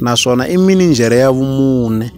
naswona i minijhere ya vumune.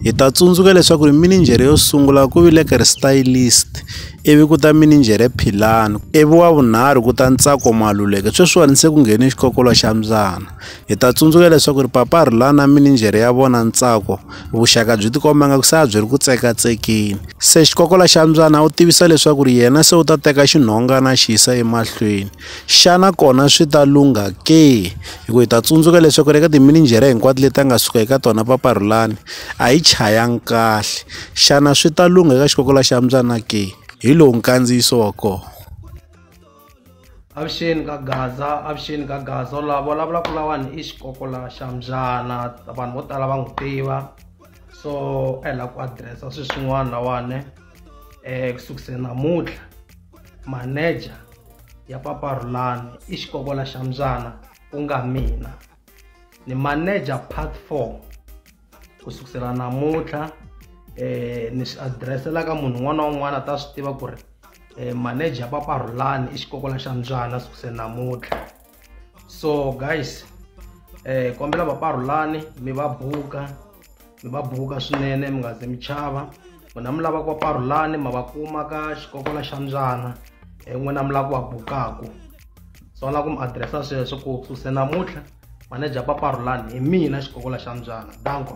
Hi ta tsundzuka leswaku ri minijhere yo sungula ku vile ka ri stylist ivi ku ta minijhere philani ivi wa vunharhu ku ta ntsako maluleke sweswiwani se ku nghene xikokolo xa mbyana hi ta tsundzuka leswaku ri papa rhulani na minijhere ya vona ntsako vuxaka byi tikomba nga ku se a byi ri ku tsekatsekeni se xikokolo xa mbyana u tivisa leswaku ri yena se u ta teka xinhongana xi yisa emahlweni Xana kona swi ta lungha ke? Hikuva hi ta tsundzuka leswaku eka timinijhere hinkwato leti a nga suka eka tona papa Rhulani a yi chayanga kahle. Xana swi ta lungha eka xikokola xa mbyana ke? Hi lowu nkandziyiso wa kona. Avuxeni ka Gaza, avuxeni ka Gaza. U lava vulavula ku lawani i xikokola xa mbyana vanhu vo tala va n'wi tiva so a hi lava ku adirese swilo swin'wana lawani um ku sukiseni namuntlha. maneja ya papa rulani i xikokola xa mbyana ku nga mina ni maneja part four ku sukusela namuntlha um ni swi adireselaka munhu un'wana na un'wana a ta swi tiva ku ri um maneja ya papa rulani i xikokola xa mbyana sukusela namuntlha so guys eh kombela vaparhulani mi va buka mi va buka swinene mi nga ze mi chava n'wina mi lava ku va parhulani ma va kuma ka xikokola xa mbyana eh, n'wina mi lava ku va bukaku so lava ku mi adiresa sweswo ku suse namuntlha maneja paparhulani hi mina xikokola xa mbyana danko